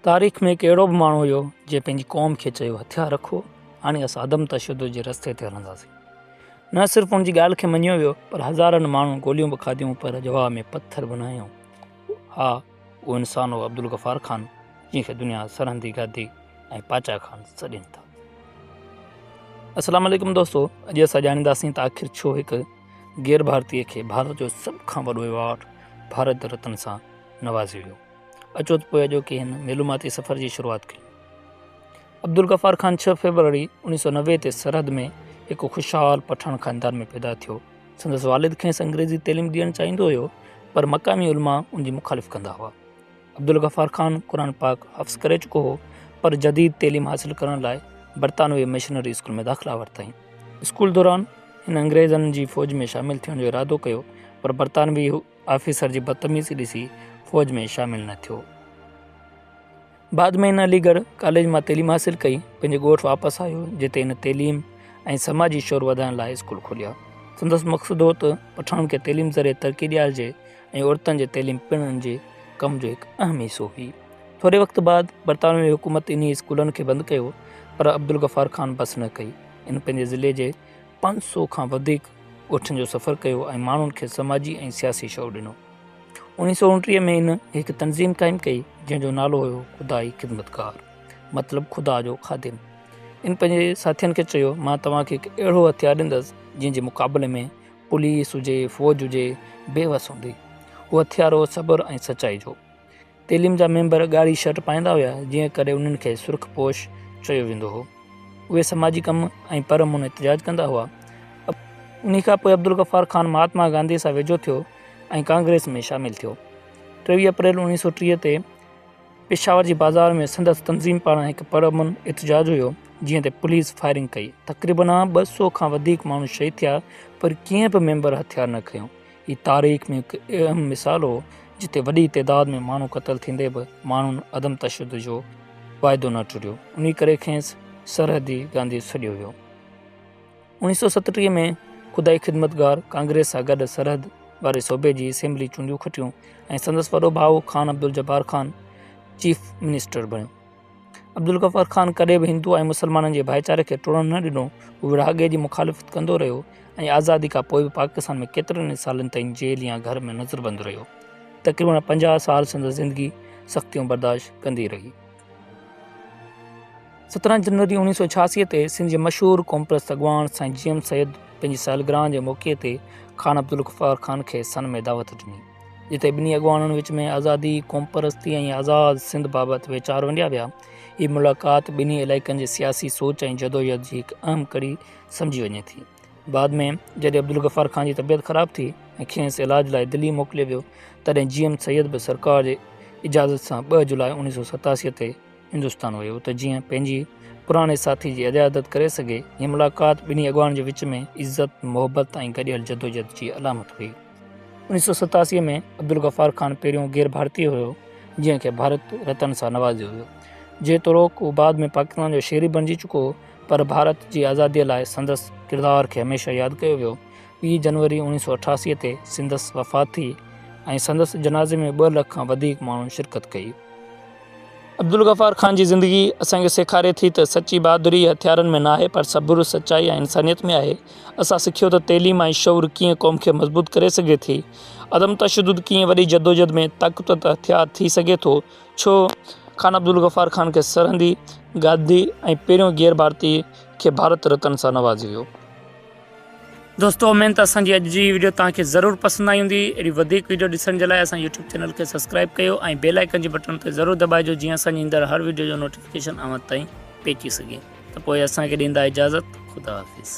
تاريخ ۾ هڪ اهڙو به ماڻهو هيو جنهن پنهنجي قوم کي چيو هٿيار رکو هاڻي اسان عدم تشدد جي رستي تي هلنداسين نه صرف ان جي ڳالهه کي مڃيو ويو پر هزارن ماڻهن گوليون به کاڌيون پر جواب ۾ پٿر به نه هنيو ها اهو انسان هو عبدالغفار خان جنهن کي دنيا سرهندي گادي ۽ پاچا خان سڏين ٿا السلام عليڪم دوستو اڄ اسان ڄاڻينداسين ته آخر ڇو هڪ غير ڀارتي کي ڀارت جو سڀ کان وڏو ايوارڊ ڀارت رتن سان نوازيو ويو اچو ته پوء اڄوڪي هن معلوماتي سفر جي شروعات ڪيون. عبدالغفار خان ڇهه فيبروري اوڻيهه سؤ نوي تي سرحد ۾ هڪ خوشحال پٺاڻ خاندان ۾ پيدا ٿيو. سندس والد کيس انگريزي تعليم ڏيڻ چاهيندو هيو پر مقامي علماء ان جي مخالف ڪندا هئا. عبدالغفار خان قرآن پاڪ حفظ ڪري چڪو هو پر جديد تعليم حاصل ڪرڻ لاء برطانوي مشنري اسڪول ۾ داخلا ورتائين. اسڪول دوران هن انگريزن جي فوج ۾ شامل ٿيڻ جو ارادو ڪيو پر برطانوي آفيسر جي بدتميزي ڏسي فوج ۾ شامل نه ٿيو. بعد ۾ هن علي ڳڙهه ڪاليج مان تعليم حاصل ڪئي. پنهنجي ڳوٺ واپس آيو جتي هن تعليم ۽ سماجي شعور وڌائڻ لاء اسڪول کوليا. سندس مقصد هو ته پٺاڻن کي تعليم ذريعي ترقي ڏيارجي ۽ عورتن جي تعليم پڻ هن جي ڪم جو هڪ اهم حصو هئي. ٿوري وقت بعد برطانوي حڪومت انهي اسڪولن کي بند ڪيو پر عبدالغفار خان بس نه ڪئي. هن پنهنجي ضلعي جي پنج سؤ کان وڌيڪ ڳوٺن جو سفر ڪيو ۽ ماڻهن کي سماجي ۽ سياسي شعور ڏنو. اوڻيهه سؤ اوڻٽيهه ۾ هن هڪ تنظيم قائم ڪئي جنهن جو نالو هيو خدائي خدمتگار مطلب خدا جو خادم. ان پنهنجي ساٿين کي چيو مان توهان کي هڪ اهڙو هٿيار ڏيندس جنهن جي مقابلي ۾ پوليس هجي فوج هجي بي وس هوندي. اهو هٿيار هو صبر ۽ سچائي جو. تعليم جا ميمبر ڳاڙهي شرٽ پائيندا هيا، جنهن ڪري انهن کي سرخ پوش چيو ويندو هو. اهي سماجي ڪم ۽ پر امون احتجاج ڪندا هئا. انهي کان پوء عبدالغفار خان مهاتما گانڌيء سان ويجهو ٿيو ۽ ڪانگريس ۾ شامل ٿيو. ٽيويهه اپريل اوڻيهه سؤ ٽيهه تي پشاور جي بازار ۾ سندس تنظيم پاران هڪ پر امن احتجاج هيو، جنهن تي پوليس فائرنگ ڪئي. تقريبن ٻه سؤ کان وڌيڪ ماڻهو شهيد ٿيا، پر ڪنهن به ميمبر هٿيار نه کنيو. هي تاريخ ۾ هڪ اهم مثال هو جتي وڏي تعداد ۾ ماڻهو قتل ٿيندي به ماڻهن عدم تشدد جو واعدو نه ٽريو انهي ڪري کيس سرحدي گانڌي سڏيو ويو اوڻيهه سؤ ستٽيهه ۾ خدائي خدمتگار ڪانگريس سان گڏ سرحد واري صوبي جي اسيمبلي چونڊيون کٽيون ۽ سندس وڏو ڀاء خان عبدالجبار خان چيف منسٽر بڻيو عبدالغفار خان ڪڏهن به هندو ۽ مسلمانن جي ڀائيچاري کي ٽڙڻ نه ڏنو. هو ورهاڱي جي مخالفت ڪندو رهيو ۽ آزادي کان پوء به پاڪستان ۾ ڪيترن ئي سالن تائين جيل يا گهر ۾ نظربند رهيو. تقريبن پنجاهه سال سندس زندگي سختيون برداشت ڪندي رهي. سترهن جنوري اوڻيهه سؤ ڇياسي تي سنڌ جي مشهور قومپرست اڳواڻ سائين جي ايم سيد پنهنجي سالگرهه جي موقعي تي خان عبدالغفار خان کي سن ۾ دعوت ڏني. جتي ٻنهي اڳواڻن وچ ۾ آزادي، قومپرستي ۽ آزاد سنڌ بابت ويچار ونڊيا ويا. هي ملاقات ٻنهي علائقن جي سياسي سوچ ۽ جدوجهد جي هڪ اهم ڪڙي سمجهي وڃي ٿي. بعد ۾ جڏهن عبدالغفار خان جي طبيعت خراب ٿي ۽ کينئس علاج لاء دلي موڪليو ويو، تڏهن جي ايم سيد به سرڪار جي اجازت سان ٻه جولاء اوڻيهه سؤ ستاسي تي هندستان ويو ته جيئن پنهنجي پراڻي ساٿي جي عيادت ڪري سگهي. هي ملاقات ٻنهي اڳواڻن جي وچ ۾ عزت، محبت ۽ گڏيل جدوجهد جي علامت هئي. انيس سئو ستاسي ۾ عبدالغفار خان پهريون غير ڀارتي هيو جنهن کي ڀارت رتن سان نوازيو ويو. جيتوڻوڪ هو بعد ۾ پاڪستان جو شهري بڻجي چڪو هو پر ڀارت جي آزاديء لاء سندس ڪردار کي هميشه ياد ڪيو ويو. ٻي جنوري اوڻيھ سئو اٺاسي تي سندس وفات ٿي ۽ سندس جنازي ۾ ٻه لک کان وڌيڪ ماڻهن شرڪت ڪئي. عبدالغفار خان جي زندگي اسان کي سيکاري ٿي ته سچي بهادري هٿيارن ۾ ناهي پر صبر، سچائي ۽ انسانيت ۾ آهي. اسان سکيو ته تعليم ۽ شعور ڪيئن قوم کي مضبوط ڪري سگهي ٿي. عدم تشدد ڪيئن وڏي جدوجھد ۾ طاقتور هٿيار ٿي سگهي ٿو. ڇو خان عبدالغفار خان کي سرهندي، گاڌي ۽ پهريون غير ڀارتي کي ڀارت رتن سان نوازيو ويو. دوستو امين ته اسان جي اڄ جي ويڊيو توهان کي ضرور پسند آئي هوندي اهڙي وڌيڪ ويڊيو ڏسڻ جي لاء اسان يوٽيوب چينل کي سبسڪرائب ڪيو ۽ بيل آئيڪن جي بٽن تي ضرور دٻائجو جيئن اسان جي ايندڙ هر ويڊيو جو نوٽيفڪيشن اوهان تائين پهچي سگهي ته پوء اسان کي ڏيندا اجازت خدا حافظ